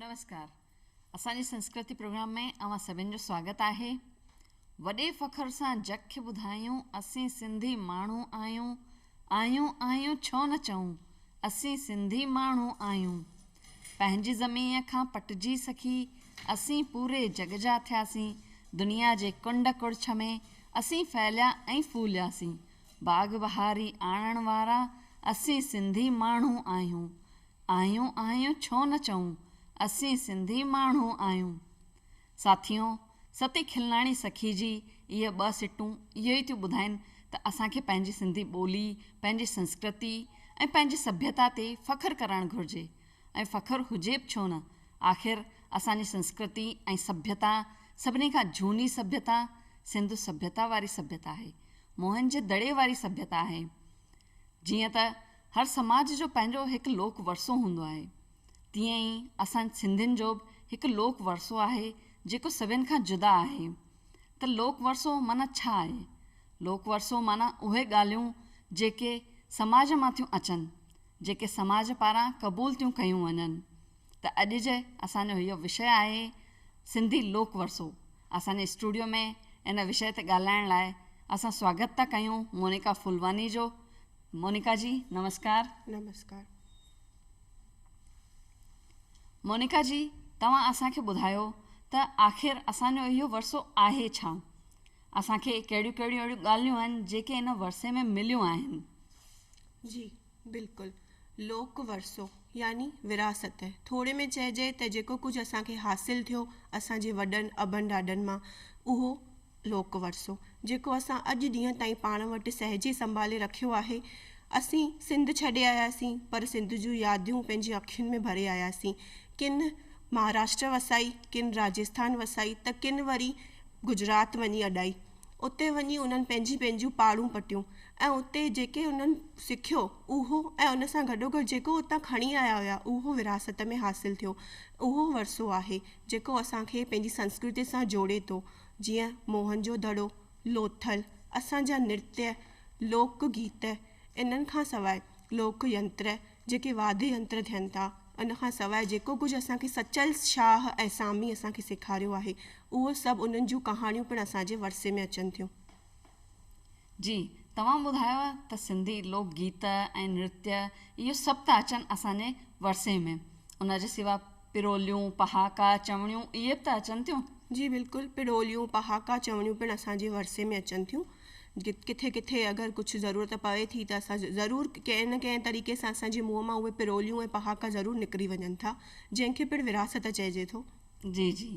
نمسڪار اسان جي سنسڪرتي پروگرام ۾ اوهان سڀن جو سواگت آهي وڏي فخر سان جگ کي ٻڌايون اسين سنڌي ماڻهو آهيون آهيون آهيون ڇو نه چئون اسين سنڌي ماڻهو آهيون پنهنجي زمين کان پٽجي سکي اسين پوري جگ جا ٿياسين دنيا جي ڪنڊ ڪڙڇ ۾ اسين ڦهليا ۽ ڦولياسين باغ بهاري آڻڻ وارا اسين سنڌي ماڻهو آهيون آهيون آهيون ڇو نه چئون اسين سنڌي ماڻهو آهيون ساٿيو ستي کلناڻي سکي جي اهي ٻه سٽون اهو ئي ٿيون ٻڌائين ته اسان کي پنهنجي سنڌي ٻولي پنهنجي سنسڪرتي ۽ پنهنجي سڀيتا تي فخر ڪرڻ گهرجي ۽ فخر هجي به ڇو نه آخر اسان جي سنسڪرتي ۽ سڀيتا سڀني کان جهوني سڀيتا سنڌو سڀيتا واري سڀيتا آهي موهن جي دڙي واري سڀيتا آهي. جيئن ته هر سماج جو پنهنجو هڪ لوڪ ورثو هوندو آهي، تيئن ئي اسان سنڌين جو به هڪ لوڪ ورثو آهي جيڪو سڀين کان جدا آهي. ته لوڪ ورثو معنيٰ ڇا آهي؟ لوڪ ورثو معنيٰ اهي ڳالهيون جيڪي سماج مان ٿيون اچن، جيڪي سماج پاران قبول ٿيون ڪيون وڃن. ته اڄ جي اسان جو اهو وشيه آهي سنڌي لوڪ ورثو. اسان جي اسٽوڊيو ۾ ان وشيه تي ڳالهائڻ لاء اسان سواگت ٿا ڪيون مونيڪا ڦولواني جو. مونيڪا جي نمسڪار. نمسڪار. مونيڪا جي توهان اسان کي ٻڌايو ته آخر اسان جو اهو ورثو آهي ڇا؟ اسان کي ڪهڙيون ڪهڙيون اهڙيون ڳالهيون آهن جيڪي ان ورثي ۾ مليون آهن؟ جي. بلڪل. لوڪ ورثو يعني وراثت. ٿوري ۾ چئجي ته جيڪو ڪجهه اسان کي حاصل ٿيو اسان جي وڏن ابن ڏاڏن مان اهو لوڪ ورثو جيڪو اسان اڄ ڏينهن تائين پاڻ وٽ سهجي سنڀالي رکيو آهي. اسين سنڌ ڇڏي آياسين پر سنڌ جون يادون پنهنجي اکين ۾ ڀري آياسين. ڪن مهاراشٽر وسائي، ڪن راجسٿان وسائي ته ڪن وري گجرات وڃي اڏائي. اتي وڃي انهن پنهنجي پنهنجيون پاڙون پٽيون ۽ اتي جيڪي انهن سکيو اهو ۽ ان سان گڏوگڏ جيڪو اتان کڻي آيا هيا اهو ورهاست ۾ حاصل ٿيو اهو ورثو آهي جيڪو اسان کي پنهنجي سنسڪرتي سان جوڙي ٿو جيئن موهن جو دڙو، لوٿل، اسان جا نرتيه، لوڪ گيت انهن کان سواء لوڪ ينتر جيڪي واڌي انتر ٿين ٿا، ان کان سواء جيڪو ڪجهه اسان کي سچل شاهه ۽ سامي اسان کي سيکاريو آهي، اهو سڀ انهن جون ڪهاڻيون پڻ اسان جي ورثي ۾ اچن ٿيون. جي توهان ٻڌايو ته سنڌي لوڪ گيت ۽ نرتيه اهو سڀ ٿا اچن اسان جي ورثي ۾، ان جي سوا پروليون، پهاڪا، چوڻيون اهي به ته اچن ٿيون. جي بلڪل، پروليون، پهاڪا، چوڻيون پڻ اسان جي ورثي ۾ اچن ٿيون. ڪٿي ڪٿي اگر ڪجهه ضرورت پوي ٿي ته اسان ضرور ڪنهن نه ڪنهن طريقي سان اسان جي منهن مان اهي پروليون ۽ پهاڪا ضرور نڪري وڃن ٿا جنهن کي پڻ وراثت چئجي ٿو. جي جي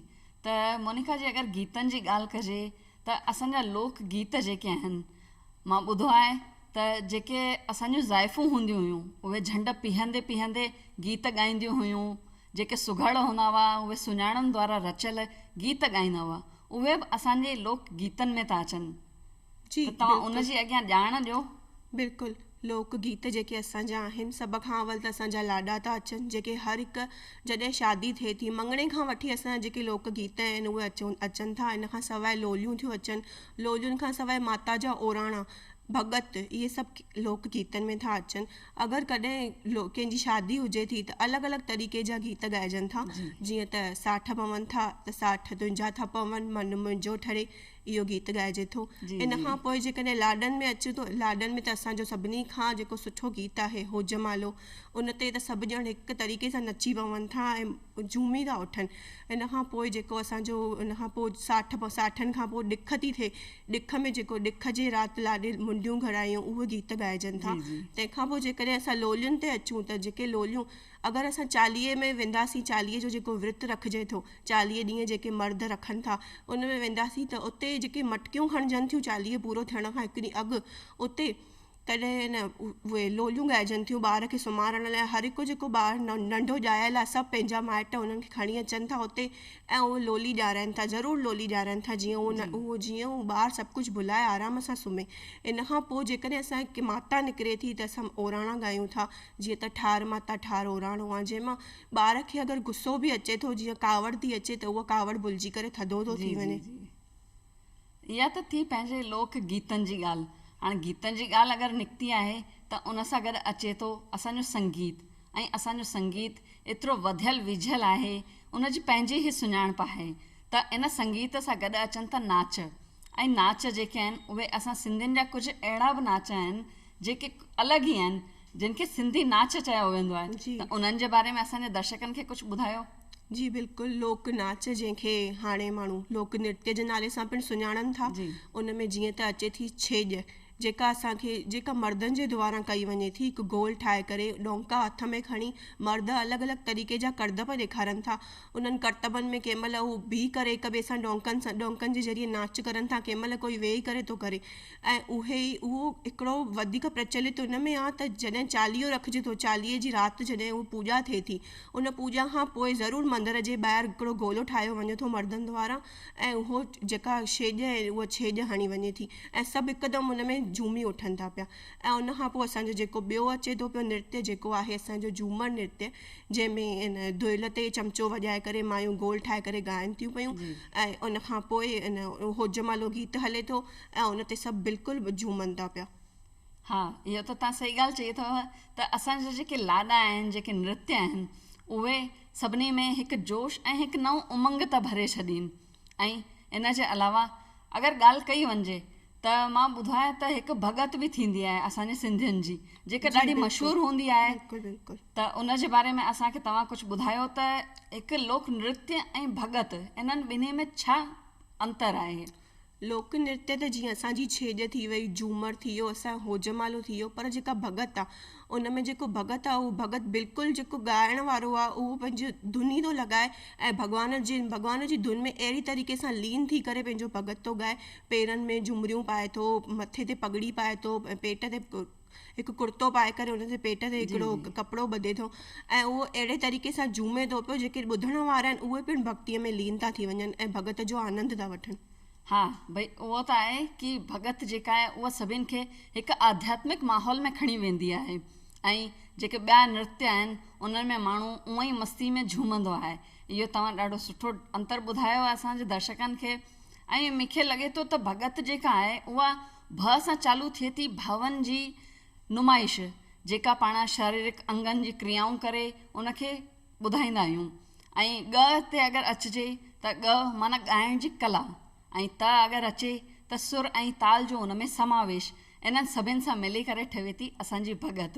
ته مونيڪا جي اگر گيتن جي ڳالهه ڪجي ته اسان جا لوڪ گيت جيڪي آهن مان ٻڌو آهي ته جيڪي اسان جون زائفون هونديون هيون اهي جهنڊ پيهندي پيهندي گيت ڳائينديون هيون جيڪي سگهڙ هوندا هئا، اهي سڃاڻن دوارا رچيل گيت ڳائيندا هئا، اهي به اسان جي لوڪ گيتن ۾ ٿا اچن جي ته توهان ان بلڪل. جي اڳيان ڄاڻ ڏيو. بلڪل، لوڪ گيت جيڪي اسان جا آهن، سڀ کان اول ته اسان جا لاڏا ٿا اچن، جيڪي هر هڪ جڏهن شادي ٿئي ٿي، مڱڻي کان وٺي اسان جا جيڪي لوڪ گيت آهن، اهي اچون اچن ٿا، ان کان سواء لوليون ٿيون اچن، لولين کان سواء ماتا جا اوراڻا، ڀڳت، اهي سڀ لوڪ گيتن ۾ ٿا اچن. اگر ڪڏهن ڪنهن جي شادي هجي ٿي ته الڳ الڳ طريقي جا گيت ڳائجن ٿا جيئن ته ساٺ پون ٿا ته ساٺ تنهنجا ٿا پون من منهنجو ٺري اهو گيت ڳائجي ٿو ان کان پوء جيڪڏهن لاڏن ۾ اچون ته لاڏن ۾ ته اسان جو سڀني کان جيڪو سٺو گيت آهي هوجمالو ان تي ته سڀ ڄڻ هڪ طريقي سان نچي پون ٿا ۽ جهومي ٿا اٿن ان کان پوء جيڪو اسان جو ان کان پوء ساٺ ساٺن کان پوء ڏک ٿي ٿئي ڏک ۾ جيڪو ڏک جي رات لاڏي منڊيون گهڙايون اهي گيت ڳائجن ٿا تنهن کان پوء جيڪڏهن اسان لولين تي اچون ته جيڪي لوليون اگر اسان چاليهي ۾ وينداسين چاليهي جو جيڪو ورت رکجي ٿو چاليهه ڏينهن جيڪي مرد رکن ٿا ان ۾ وينداسين ته اتي جيڪي مٽڪيون کڻجن ٿيون چاليهه پورو ٿيڻ کان هڪ ڏينهن اڳ اتي تڏهن نه اهي لوليون ڳائجن ٿيون. ٻار کي سمهارڻ لاء هر هڪ جيڪو ٻار ننڍو ڄايل آهي سڀ پنهنجا مائٽ انهن کي کڻي اچن ٿا اتي ۽ اهي لولي ڄارائين ٿا ضرور لولي ڄارائين ٿا جيئن اهو جي اهو جيئن اهو ٻار سڀ ڪجهه ڀلائي آرام سان سمهي ان کان پوء جيڪڏهن اسان کي ماتا نڪري ٿي ته اسان اوراڻا ڳايون ٿا جيئن ته ٺار ماتا ٺار اوراڻو آهي جنهن مان ٻار کي اگر غصو به اچي ٿو جيئن ڪاوڙ ٿي اچي ته اهو ڪاوڙ ڀلجي ڪري ٿڌو ٿو ٿي وڃي اها ته ٿي پنهنجي لوڪ گيتن جي ڳالهه. هاڻ گيتن جي ڳالهه اگر نڪتي آهي ته ان سان گڏ اچي ٿو اسان جو سنگيت ۽ اسان جو سنگيت ايترو وڌيل ويجهيل آهي ان جي پنهنجي ئي سڃاڻپ آهي ته ان سنگيت سان گڏ اچن ٿا ناچ ۽ ناچ جيڪي آهن اهي اسان سنڌين جا ڪجهه اهڙا به ناچ آهن جيڪي الڳ ئي آهن جن کي سنڌي ناچ چيو ويندو آهي ته انهن جي باري ۾ اسان جي درشڪن کي ڪجهه ٻڌايو. جي بلڪل لوڪ ناچ جنهن کي هاڻي ماڻهو لوڪ نرتيا جي نالي سان پڻ سڃاڻن ٿا ان ۾ جيئن ته اچي ٿي ڇيڄ جيڪا اسان کي جيڪا مردن جي دواران ڪئي وڃي ٿي هڪ گول ٺاهي ڪري ڏونڪا هٿ ۾ کڻي مرد الڳ الڳ طريقي جا ڪرتب ڏيکارن ٿا انهن ڪرتبن ۾ ڪنهن مهل هو بيهي ڪري هڪ ٻئي سان ڏونڪن سان ڏونڪن جي ذريعي ناچ ڪرن ٿا ڪنهن مهل ڪوئي ويهي ڪري ٿو ڪري ۽ اهي ئي اهو هڪڙو وڌيڪ پرچلت ان ۾ آ ته جڏهن چاليهو رکجي ٿو، چاليهي جي رات جڏهن اهو پوڄا ٿئي ٿي، ان پوڄا کان پوء ضرور مندر جي ٻاهر هڪڙو گولو ٺاهيو وڃي ٿو مردن دوارا ۽ اهو جيڪا ڇيڄ ۽ اها ڇيڄ هڻي وڃي ٿي ۽ سڀ هڪدم ان ۾ جهومي اٺن ٿا پيا ۽ ان کان پوء اسان جو جيڪو ٻيو اچي ٿو پيو نرتيه جيڪو آهي اسان جو جهومر نرتيه جنهن ۾ ان دهل تي چمچو وڄائي ڪري مايون گول ٺاهي ڪري ڳائن ٿيون پيون ۽ ان کان پوء ان هوجمالو گيت هلي ٿو ۽ ان تي سڀ بلڪل به جهومن ٿا پيا. ها اهو ته توهان صحيح ڳالهه چئي اٿئو ته اسان جا جيڪي لاڏا آهن جيڪي نرتي آهن اهي سڀني ۾ هڪ جوش ۽ هڪ نئون امنگ ته ڀري ڇڏين ۽ ان جي علاوه اگر ڳالهه ڪئي وڃجي ته مان ٻڌايان ته هڪ ڀڳت به ٿيندي آهي اسان جي سنڌين جي جيڪا ڏاڍي مشهور هوندي آهي ته ان جي باري ۾ اسان کي توهان ڪجهه ٻڌايو ته هڪ لوڪ نرتي ۽ ڀڳت انهن ٻنهي ۾ ڇا انتر آهي. لوڪ نرتيا ته جيئن اسان جي ڇيڄ ٿي وئي، جهومر ٿي ويو، اسان جو هوجمالو ٿي ويو پر جيڪا ڀڳت آ ان ۾ جيڪو ڀڳت آ اهو ڀڳت بلڪل جيڪو ڳائڻ وارو آ اهو پنهنجي ڌن ئي ٿو لڳائي ۽ ڀڳوان جي ڀڳوان جي ڌن ۾ اهڙي طريقي سان لين ٿي ڪري پنهنجو ڀڳت ٿو ڳائي پيرن ۾ جهمريون پائي ٿو مٿي تي پڳڙي پائي ٿو ۽ پيٽ تي هڪ ڪرتو پائي ڪري ان جي پيٽ تي هڪڙو ڪپڙو ٻڌي ٿو ۽ اهو اهڙي طريقي سان جهومي ٿو پيو جيڪي ٻڌڻ وارا آهن اهي پڻ ڀڳتي ۾ لين ٿا ٿي وڃن ۽ ڀڳت جو آنند ٿا وٺن. ها ڀئي اهو ته آهي ڪي ڀڳت جيڪا آهي اها سڀين کي هڪ آڌياتمڪ ماحول ۾ کڻي ويندي آهي ۽ جيڪي ٻيا نرتيا آهن انهن ۾ ماڻهو اونئن ئي مستي ۾ جهومندو آهي اهو توهان ڏاڍو سٺو انتر ٻڌايو آهي اسان جي درشڪن کي ۽ مونکي لڳي ٿو ته ڀڳت جيڪا آهي اها بھ سان چالو ٿئي ٿي بھاون جي نمائش جيڪا پاڻ شاريرڪ انگن جي ڪريائون ڪري ان کي ٻڌائيندا آھيون ۽ ڳھ تي اگر اچجي تھ ڳھ معنيٰ ڳائڻ جي ڪلا ۽ تھ اگر اچي تھ سر ۽ تال جو ان ۾ سماويش انھن سڀن سان ملي ڪري ٺھي ٿي اسان جي ڀڳت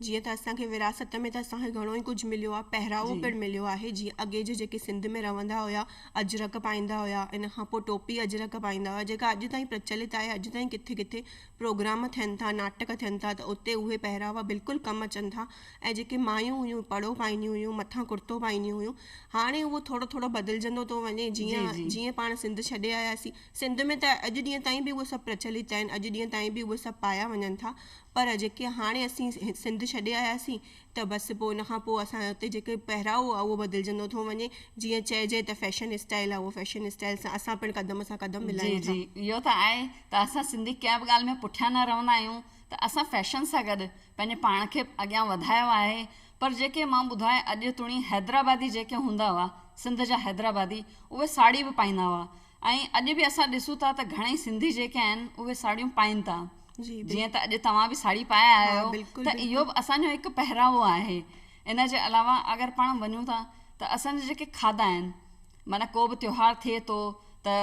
جيئن ته اسان کي وراثت ۾ ته اسان کي گهڻو ئي ڪجهه مليو آهي، پهراوو جي. پڻ مليو آهي، جيئن اڳي جي جيڪي سنڌ ۾ رهندا هيا، اجرڪ پائيندا هيا، ان کان پوء ٽوپي اجرڪ پائيندا هيا، جيڪا اڄ تائين پرچلت آهي، اڄ تائين ڪٿي ڪٿي پروگرام ٿين ٿا، ناٽڪ ٿين ٿا ته اتي اهي پهراوا بلڪل ڪم اچن ٿا ۽ جيڪي مايون هيون پڙو پائينديون هيون، مٿان ڪرتو پائينديون هيون، هاڻي اهو ٿورو ٿورو بدلجندو ٿو وڃي، جي جيئن جي. جيئن پاڻ سنڌ ڇڏي آياسين، سنڌ ۾ ته اڄ ڏينهن تائين به اهي سڀ پرچلت آهن، اڄ ڏينهن تائين به اهي سڀ پايا وڃن ٿا، پر جيڪي هاڻي اسين سنڌ ڇڏي آياسين ته بس پوء ان کان پوء اسان جو اتي جيڪي پهراوو آهي اهو بدلجندو ٿو وڃي جيئن چئجي ته فيشن اسٽائيل آهي اهو فيشن اسٽائيل سان اسان پڻ قدم سان قدم ملايون ٿا. جي جي اهو ته آهي ته اسان سنڌي ڪنهن به ڳالهه ۾ پٺيان نه رهندا آهيون ته اسان فيشن سان گڏ پنهنجي پاڻ کي اڳيان وڌايو آهي پر جيڪي مان ٻڌا اڄ توڻي حيدرآبادي جيڪي هوندا هئا سنڌ جا حيدرآبادي اهي ساڙهي به پائيندا هئا ۽ اڄ به اسان ڏسون ٿا ته گهڻئي سنڌي جيڪي آهن اهي ساڙهيون پائين ٿا جيئن ته اڄ توهان به ساڙهي پائي آيا آهيو ته اهو به اسان جو هڪ پهراوو آهي ان جي علاوه اگر پاڻ وڃون ٿا ته اسان جا جيڪي کاڌا آهن معنيٰ ڪو به تيوهار ٿئي ٿو ته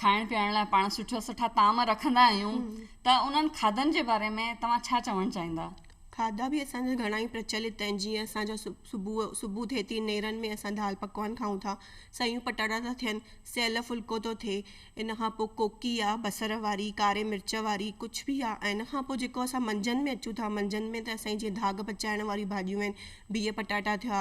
کائڻ پيئڻ لاء پاڻ سٺا سٺا طعام رکندا آهيون ته انهن کاڌن جي باري ۾ توهان ڇا چوڻ چاهيندا کاڌا به اسان جا گهڻا ئي پرچلت آهن جيئن اسان جا صبح صبح ٿئي ٿي نيرن ۾ اسان دال پڪوان کائون ٿا سيون پٽاٽا ٿا ٿين سيل ڦلڪو ٿو ٿئي ان کان پوء ڪوڪي آ بصر واري ڪاري مرچ واري ڪجھ به آ ۽ ان کان پوء جيڪو اسان منجھند ۾ اچون ٿا منجھند ۾ ته اسان جي جيئن داغ پچائڻ واريون ڀاڄيون آهن بيهه پٽاٽا ٿيا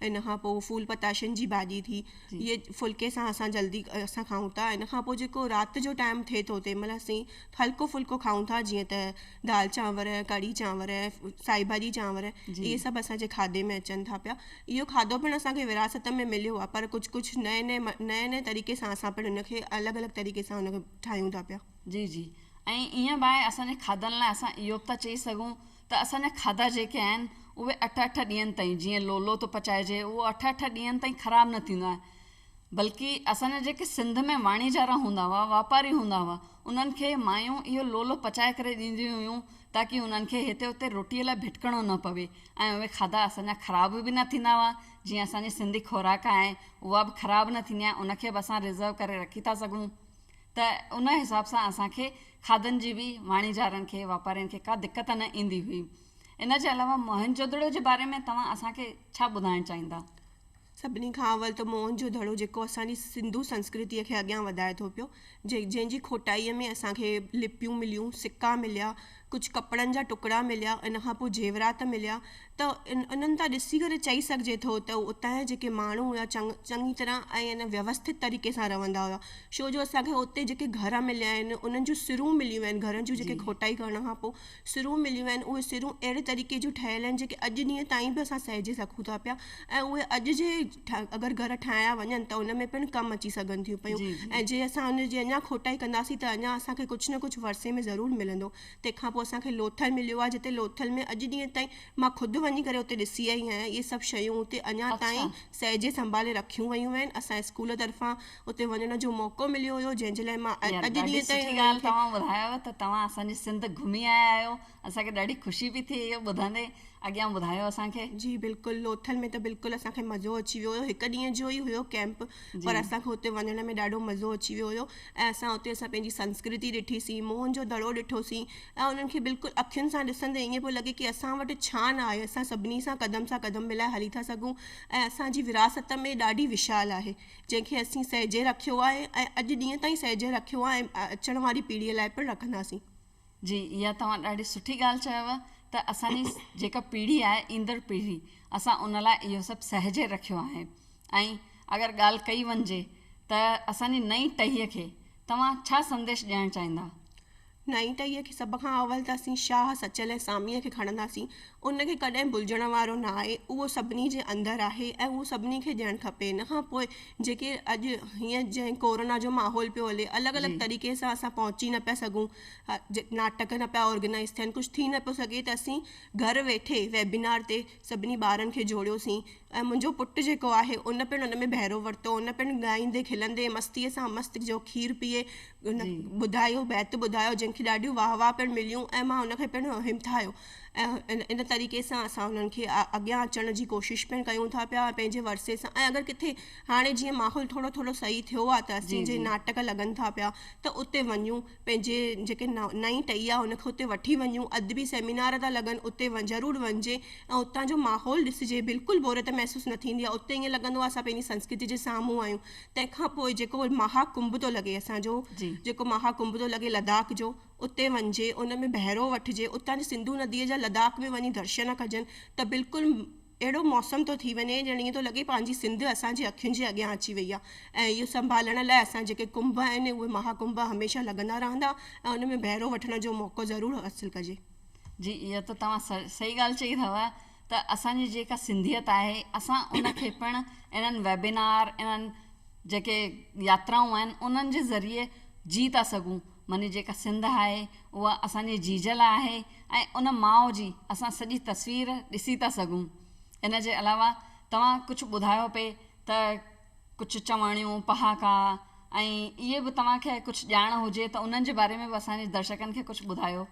ان کان پوء ڦول پتاشن جي ڀاڄي ٿي اهي ڦلڪي سان اسان جلدي اسان کائون ٿا ان کان پوء جيڪو رات جو ٽائيم ٿئي ٿو تنهن مهل اسين هلڪو ڦلڪو کائون ٿا جيئن ته دال چانور ڪڙي چانور سائي ڀاڄي چانور اهي سڀ اسان جي کاڌي ۾ اچن ٿا پيا اهو کاڌو پڻ اسان کي وراثت ۾ مليو آهي پر ڪجهه ڪجهه نئين نئين نئين نئين طريقي سان اسان پڻ ان کي الڳ الڳ طريقي سان ان کي ٺاهيون ٿا پيا جي جي ۽ ايئن به آهي اسان جي کاڌن لاء اسان اهو به ٿا چئي سگهون ته اسان جا کاڌا جيڪي آهن اهي اٺ اٺ ڏينهن تائين جيئن لولو ٿو پچائجي اهو اٺ اٺ ڏينهن تائين خراب نه ٿيندو آهي بلڪه اسان جا جيڪي سنڌ ۾ واڻيجارا هوندا هئا، واپاري هوندا هئا، انهن کي مايون اهو لولو پچائي ڪري ڏينديون هيون تاڪه انهن کي هتي هتي روٽيء لاء ڀٽڪڻو نه پوي ۽ اهي کاڌا اسان جا خراب به نه ٿيندا هئا، جيئن اسان جي سنڌي خوراڪ آهي اها به خراب نه ٿيندي آهي، ان کي به اسان رزرو ڪري رکي ٿا سگهون ته ان حساب سان اسان کي کاڌن جي به واڻيجارن کي واپارين کي ڪا دقت نه ايندي هئي. ان جي علاوه موهن جودڙو جي باري ۾ توهان اسان کي ڇا ٻڌائڻ چاهيندا؟ سڀني کان اول ته موئن جو دڙو جيڪو اسان جي سنڌو سنسڪرتيء کي اڳيان وڌائي ٿو پيو، جنهن جي کوٽائيء ۾ اسان کي لپيون مليون، سڪا مليا، ڪجهه ڪپڙن جا ٽڪرا مليا، ان کان پوء زيورات مليا ته انهن تان ڏسي ڪري چئي سگهجي ٿو ته اتان جا جيڪي ماڻهو هيا چڱي طرح ۽ ويوسٿت طريقي سان رهندا هيا ڇو جو اسان کي اتي جيڪي گهر مليا آهن انهن جون سرون مليون آهن گهرن جون جيڪي کوٽائي ڪرڻ کان پوء سرون مليون آهن، اهي سرون اهڙي طريقي جون ٺهيل آهن جيڪي اڄ ڏينهن تائين به اسان سهجي سگهون ٿا پيا ۽ اهي اڄ جي اگر گهر ٺاهيا وڃن ته ان ۾ پڻ ڪم اچي سگهن ٿيون پيون جي جي. ۽ جي اسان ان جي اڃا کوٽائي ڪنداسين ته اڃا اسان کي ڪجهه نه ڪجهه ورثي ۾ ضرور ملندو. تنهن کان پوء اسان کي لوٿل مليو آهي جتي لوٿل ۾ اڄ ڏينهن تائين مان خود وڃي ڪري اتي ڏسي آئي آهيان اهي سڀ شيون اتي اڃا اڇا. تائين سهجي سنڀالي رکيون ويون آهن اسان اسڪول طرفان اتي وڃڻ جو موقعو مليو هيو جنهن جي لاء مان اڄ ڏينهن تائين سٺي ڳالهه توهان ٻڌايو ته توهان اسانجي سنڌ گهمي آيا آهيو اسان کي ڏاڍي خوشي پئي ٿئي اهو ٻڌندي اڳيان ٻڌايو اسان کي. جي بلڪل لوٿل ۾ ته بلڪل اسان کي مزو اچي ويو هيو هڪ ڏينهن جو ئي هيو ڪيمپ پر اسان کي اتي وڃڻ ۾ ڏاڍو مزو اچي ويو هيو ۽ اسان اتي اسان پنهنجي سنسڪرتي ڏٺي سين موهن جو دڙو ڏٺو سين ۽ انهن کي بلڪل اکين سان ڏسندي ائين پيو لڳي ڪي اسان وٽ ڇا نه آهي اسان سڀني سان قدم سان قدم ملائي هلي ٿا سگهون ۽ اسان جي وراثت ۾ ڏاڍي وشال آهي جنهن کي اسين سهجي رکيو آهي ۽ اڄ ڏينهن تائين سهجي رکيو آهي ۽ اچڻ واري پيڙهيء لاء پڻ رکنداسين. جي اها توهان ڏاڍي سٺي ڳالهه چيو ته اسان جي جيڪا پيڙهي آهي ايندڙ پيڙهي اسان ان لاء اهو سڀ سهجي رکيو آهي ۽ اگر ڳالهه ڪئي وڃجي ته اسان جي نئين ٽهيء کي توهان ڇا سنديش ڏيڻ چاهيندا؟ نائين ٽهيء کي سڀ کان اول ته اسين شاهه، سچل ۽ ساميء کي کڻنداسين. ان کي ڪڏهن ڀلجڻ وارو نه آهي. اهو سڀني جي اندر آهي ۽ اهو سڀني کي ڏيڻ کپي. ان کان پوء جيڪي اڄ هينئر جئين ڪورونا جو ماحول پيو هلي، الڳ الڳ طريقي سان اسان پهچي نه پيا سگهون، ناٽڪ نه پيا آرگنائيز ٿين، ڪجهه ٿي نه پيو سگهي ته اسين گهر ويٺي ويبينار تي سڀني ٻارن کي جوڙيوسين ۽ منهنجو پٽ جيڪو آهي ان پڻ ان ۾ بهرو ورتو، ان پڻ ڳائيندي کلندي مستيء سان مست جو کير پيئي ان ٻڌايو بيت ٻڌايو جنهن کي ڏاڍيون واهه واهه پڻ مليون ۽ مان ان کي پڻ همٿايو ۽ ان طريقي سان اسان انهن کي اڳيان اچڻ جي ڪوشش پڻ ڪيون ٿا پيا ۽ پنهنجي ورثي سان ۽ اگر ڪٿي هاڻي جيئن ماحول ٿورو ٿورو صحيح ٿيو آهي ته اسين جي ناٽڪ لڳن ٿا پيا ته اتي وڃون پنهنجي جيڪي نئين ٽهي آهي ان کي اتي وٺي وڃون ادبي سيمينار ٿا لڳن اتي ضرور وڃجي ۽ اتان جو ماحول ڏسجي بلڪل بوريت محسوس نه ٿيندي آهي اتي ائين لڳندو آهي اسان پنهنجي سنسڪرتي جي سامهون آهيون تنهن کان پوء جيڪو مها ڪنڀ ٿو لڳي اسان جو جيڪو مها ڪنڀ ٿو لڳي لداخ جو اتي وڃجي ان ۾ بهرو وٺجي اتان جي سنڌو نديء جا لداخ ۾ وڃي درشن ڪجن ته بلڪل اهڙو موسم ٿو ٿي وڃي ڄڻ ائين ٿو لڳي پنهنجي سنڌ اسان جي اکين جي اڳيان اچي وئي آهي ۽ اهو سنڀالڻ لاء اسان جيڪي ڪنڀ آهن اهي مها ڪنڀ هميشه لڳندا رهندا ۽ ان ۾ بهرو وٺڻ جو موقعو ضرور حاصل ڪجي. جي اها ته توهان صحيح ڳالهه چئي اٿو ته اسان جي جيڪا سنڌيت آهي اسان ان کي پڻ انهن ويبنار انهن جيڪي ياترائون آهن انهن جي ذريعي جي ٿا سگهون. مني جيڪا سنڌ آهي اها اسان جي جيجل آهي ۽ ان ماء جي اسان سڄي تصوير ڏسي ٿا سگهون ان جي علاوه توهان ڪجهه ٻڌايو پئي ته ڪجهه چواڻيون پهاڪا ۽ اهي به توهان کي ڪجهه ڄاڻ هجي ته انهن جي باري ۾ به اسان جي درشڪن کي ڪجهه ٻڌايو.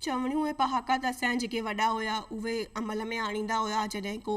چوڻيون ۽ پهاڪا ته اسان جا جيڪي وڏا هيا اهي عمل ۾ آڻيندا هيا جڏهن ڪو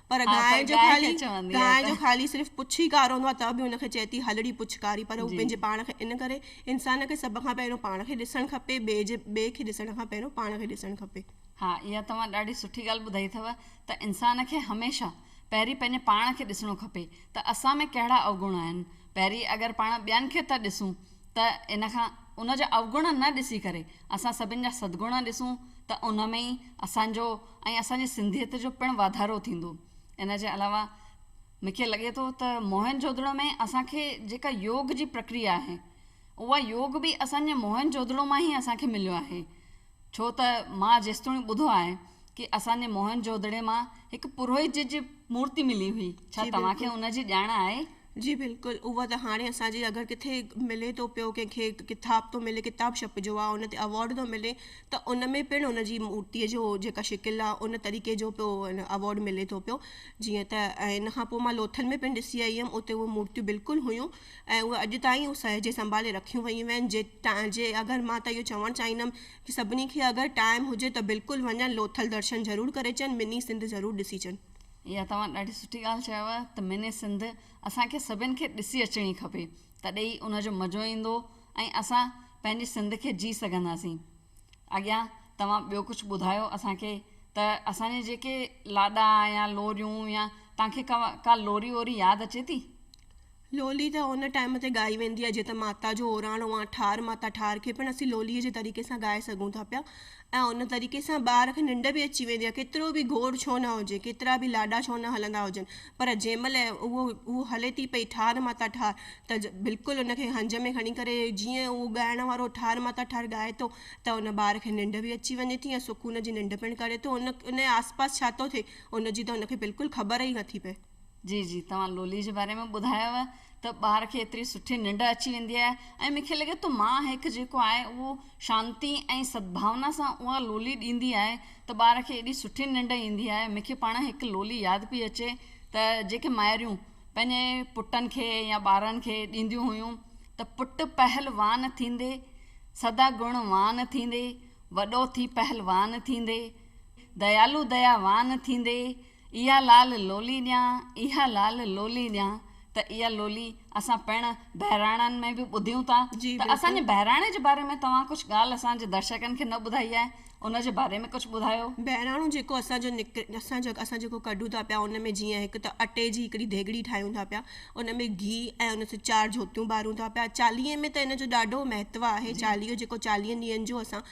پر گانء جو خالي، گانء جو خالي صرف پڇ ئي ڪارو هوندو آهي ته به ان کي چئي ٿي هلڙي پڇ ڪاري پر هو پنهنجي پاڻ کي ان ڪري انسان کي سڀ کان پهريون پاڻ کي ڏسڻ کپي ٻئي جي ٻئي کي ڏسڻ کان پهريون پاڻ کي ڏسڻ کپي. ها اها توهان ڏاڍي سٺي ڳالهه ٻڌائي اٿو ته انسان کي هميشه پهرين پنهنجي پاڻ کي ڏسڻو کپي ته اسان ۾ ڪهڙا اوگڻ آهن پهرين اگر پاڻ ٻين کي ٿا ڏسون ته ان کان ان جا اوگڻ نه ڏسي ڪري اسان سڀن جا سدگڻ ڏسون ته ان ۾ ئي اسان جو ۽ اسان جي سنڌيت جو پڻ واڌارو ٿيندو. ان جي علاوه مون کي لڳي ٿو ته موهن جوڌڙو ۾ اسان کي جيڪا يوگ جي پرڪريا آهي اها يوگ به اسان جي موهن جوڌڙو مان ئي اسان کي مليو آهي ڇو ته مان جيستوڻي ٻڌو آهي ڪي اسان جي موهن جوڌڙي مان هڪ پروهيت جي جي مورتي ملي هئي ڇا جي توهان کي بلڪل. ان جي ڄاڻ آهي؟ جي بلڪل اهو ته هاڻي اسان جي اگر ڪٿي ملي ٿو پيو ڪنهن کي ڪتاب ٿو ملي ڪتاب ڇپجو آهي ان تي اوارڊ ٿو ملي ته ان ۾ پڻ ان جي مورتيء جو جيڪا شڪل آهي ان طريقي جو پيو اوارڊ ملي ٿو پيو جيئن ته ۽ ان کان پوء مان لوٿل ۾ پڻ ڏسي آئي هيم اتي اهي مورتيون بلڪل هيون ۽ اهي اڄ تائين اهي سهجي سنڀالي رکيون ويون آهن جي ٽائين جي اگر مان ته اهو چوڻ چاهيندم ڪي سڀني کي اگر ٽائيم هجي ته بلڪل وڃن لوٿل درشن ضرور ڪري اچن مني سنڌ ضرور ڏسي اچن. اها توهان ڏاڍي سٺي ڳالهه چيو ته مني سنڌ اسان کي سڀين کي ڏسي اچڻي کپي تڏهن ئي ان جو مزو ايندو ۽ اسان پنهنجي سنڌ کي جي سگهنداسين اڳيان توهان ٻيو ڪجهه ٻڌايو اسان کي ته اسان جي جيڪي لاڏا يا لوريون يا توهان کي ڪا لوري ووري ياد اچي ٿي. لولي ته ان ٽائيم تي ڳائي ويندي آهي جيئن ته ماتا جو اوراڻو آهي ٺار ماتا ٺار کي پڻ اسين لولي جي طريقي سان ڳائي سگهون ٿا پيا ۽ ان طريقي سان ٻار کي ننڊ به اچي ويندي آهي ڪيترو به گوڙ ڇو نه هجي ڪيترا به لاڏا ڇو نه هلندا هجن پر جنهن مهل اهو اهو هلي ٿي پئي ٺار ماتا ٺار ته بلڪل ان کي هنج ۾ کڻي ڪري جيئن اهو ڳائڻ وارو ٺار ماتا ٺار ڳائي ٿو ته ان ٻار کي ننڊ به اچي وڃي ٿي ۽ سڪون جي ننڊ پڻ ڪري ٿو ان ان آس پاس ڇا ٿو ٿئي ان جي ته ان کي بلڪل خبر ئي نه ٿي پئي جي جي توهان لولي جي باري ۾ ٻڌايو ته ٻار کي ايتري سٺي ننڊ اچي ويندي آهي ۽ مونکي لڳي ٿو مان هيڪ جيڪو آهي اهو شانتي ۽ سدڀاونا سان اها لولي ڏيندي آهي ته ٻار کي ايڏي سٺي ننڊ ايندي آهي مونکي پاڻ هڪ لولي ياد پئي اچي ته جيڪي مائريون پنهنجي پٽن کي يا ٻارن کي ڏينديون هيون ته پٽ پهلوان ٿيندي سدا گڻ وان ٿيندي وڏو ٿي پهلوان ٿيندي ديالو ديا وان ٿيندي. اها لال لولي ڏيان، اها لال لولي ڏيان ته اها لولي اسان پڻ بهراڻن ۾ به ٻڌيون ٿا ته اسان جي بهراڻي جي باري ۾ توهان ڪجهه ڳالهه اسان جي درشڪن کي نه ٻڌائي آهي ان جي باري ۾ ڪجهه ٻڌايو. بهراڻو جيڪو اسان جو نڪري اسان جو اسان جيڪو ڪڍون ٿا پيا ان ۾ جيئن هڪ ته اٽي جي هڪڙي ديڳڙي ٺاهيون ٿا پيا ان ۾ گيهه ۽ ان سان چار جوتيون ٻارون ٿا پيا چاليهي ۾ ته ان جو ڏاڍو مهتو آهي چاليهو جيڪو چاليهن ڏينهن جو اسان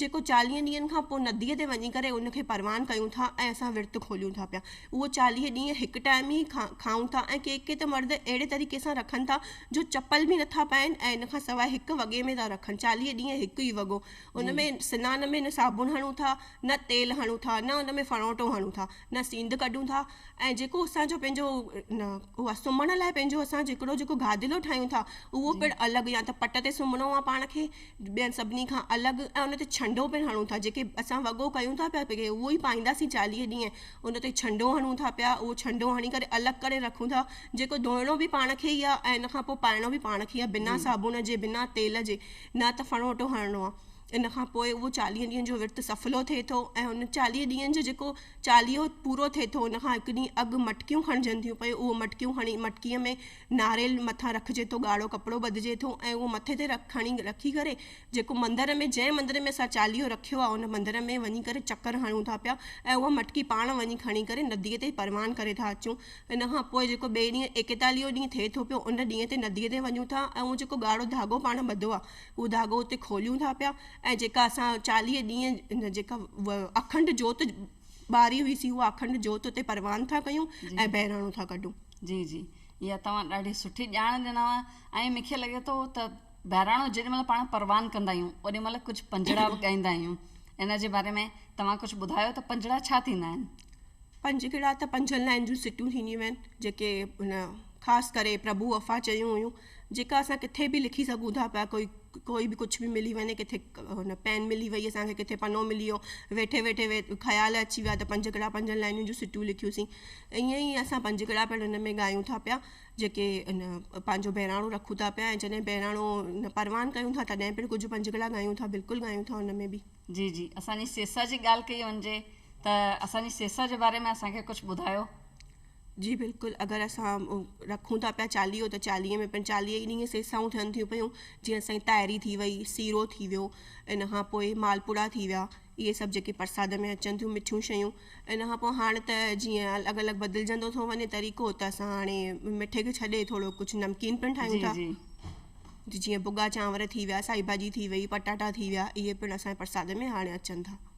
جيڪو چاليهن ڏينهن کان پوء نديء تي وڃي ڪري ان کي پروان ڪيون ٿا ۽ اسان ورت کوليون ٿا پيا. اهو چاليهه ڏينهن هڪ ٽائيم ئي کائون ٿا ۽ ڪي ڪي ته مرد اهڙي طريقي سان رکن ٿا جو چپل به نٿا پائين ۽ ان کان سواء هڪ وڳي ۾ ٿا رکن. چاليهه ڏينهن هڪ ئي وڳو. ان ۾ سنان ۾ نه صابڻ هڻون ٿا، نه تيل هڻون ٿا، نه ان ۾ ڦڻوٽو هڻون ٿا، نه سينڌ ڪڍون ٿا ۽ جيڪو اسان جو پنهنجو اهو آهي سمهڻ لاء پنهنجو اسان هڪڙو جيڪو گادلو ٺاهيون ٿا اهو پڻ الڳ يا ته پٽ تي سمهڻو آهي پاڻ کي، ٻين سڀني کان الڳ ۽ ان تي ڇنڊو پڻ هڻون ٿا جيڪي اسان وڳو ڪيون ٿا پيا پي اهو ئي پائينداسين چاليهه ڏينهن ان تي ڇنڊو هڻون ٿا پيا اهو ڇنڊو هڻي ڪري الڳ ڪري رکون ٿا جيڪو ڌوئڻو به پاڻ کي ئي آهي ۽ ان کان پوء پائڻو به پاڻ کي ئي آهي بنا صابڻ جي بنا تيل جي نه ته ڦڻوٽو هڻڻو آهي ان کان پوء اهو چاليهه ڏينهن جو ورت سڦلو ٿئي ٿو ۽ ان چاليهه ڏينهن جو جيڪو چاليهو پورو ٿئي ٿو ان کان هڪ ڏينهن اڳ مٽڪيون کڻجن ٿيون پيون اهو مٽڪيون کڻي مٽڪيء ۾ ناريل مٿان رکجي ٿو، ڳاڙهو ڪپڙو ٻڌجي ٿو ۽ اهو مٿي تي رک کڻي رکي ڪري جيڪو مندر ۾ جنهن مندر ۾ اسان چاليهو رکيو آهي ان مندر ۾ وڃي ڪري چڪر هڻون ٿا پيا ۽ اها مٽڪي پاڻ وڃي کڻي ڪري نديء تي پروان ڪري ٿا اچون ان کان پوء جيڪو ٻئي ڏينهن ايڪيتاليهون ڏينهن ٿئي ٿو پيو ان ڏينهن تي نديء تي وڃون ٿا ۽ اهو جيڪو ڳاڙهو ڌاڳو پاڻ ٻڌو آهي اهو ڌاڳو اتي کوليون ٿا پيا ۽ جيڪا اسان چاليهه ڏينهن ان جيڪا اکنڊ جوت ٻاري هئي سي اها اکنڊ جوت اتي پروان ٿا ڪيون ۽ بهراڻو ٿا ڪڍون جي جي اها توهان ڏاڍي سٺي ڄاڻ ڏنو ۽ مونکي لڳي ٿو ته بهراڻو جيڏي مهل پاڻ پروان ڪندا آهيون اوڏي مهل ڪجهه پنجڙا به ڳائيندا آهيون ان جي باري ۾ توهان ڪجهه ٻڌايو ته پنجڙا ڇا ٿيندا آهن. پنجڙا ته پنجن لائن جون سٽيون ٿينديون آهن جيڪي ان خاص ڪري پرڀو وفا چيون هيون. جيڪا اسان ڪٿي به لکي سگهون ٿا پيا ڪوئي ڪوئي به ڪجهه به ملي وڃي ڪٿي هن پين ملي وئي اسان کي ڪٿي پنو ملي ويو ويٺي ويٺي خيال اچي ويا ته پنج ڪڙا پنجن لائنين جون سٽون لکيوسين ائين ئي اسان پنج ڪڙا پڻ هن ۾ ڳايون ٿا پيا جيڪي ان پنهنجو بهراڻو رکون ٿا پيا ۽ جڏهن بهراڻو پروان ڪيون ٿا تڏهن پڻ ڪجهه پنج ڪڙا ڳايون ٿا بلڪل ڳايون ٿا ان ۾ به جي جي اسان جي سيسا جي ڳالهه ڪئي وڃجي ته اسان جي سيسا جي باري ۾ اسان کي ڪجهه ٻڌايو جي بلڪل اگر اسان رکون ٿا پيا چاليهو ته چاليهي ۾ پڻ چاليهه ئي ڏينهن سيسائون ٿين ٿيون پيون جيئن اسان جي تاهري ٿي وئي سيرو ٿي ويو ان کان پوء مالپوڙا ٿي ويا اهي سڀ جيڪي پرساد ۾ اچن ٿيون مٺيون شيون ان کان پوء هاڻ ته جيئن الڳ الڳ بدلجندو ٿو وڃي طريقو ته اسان هاڻي مٺي کي ڇڏي ٿورو ڪجهه نمڪين پڻ ٺاهيون ٿا جي جيئن ڀڳا چانور ٿي ويا سائي ڀاڄي ٿي وئي پٽاٽا ٿي ويا اهي پڻ اسان جي پرساد ۾ هاڻي اچن ٿا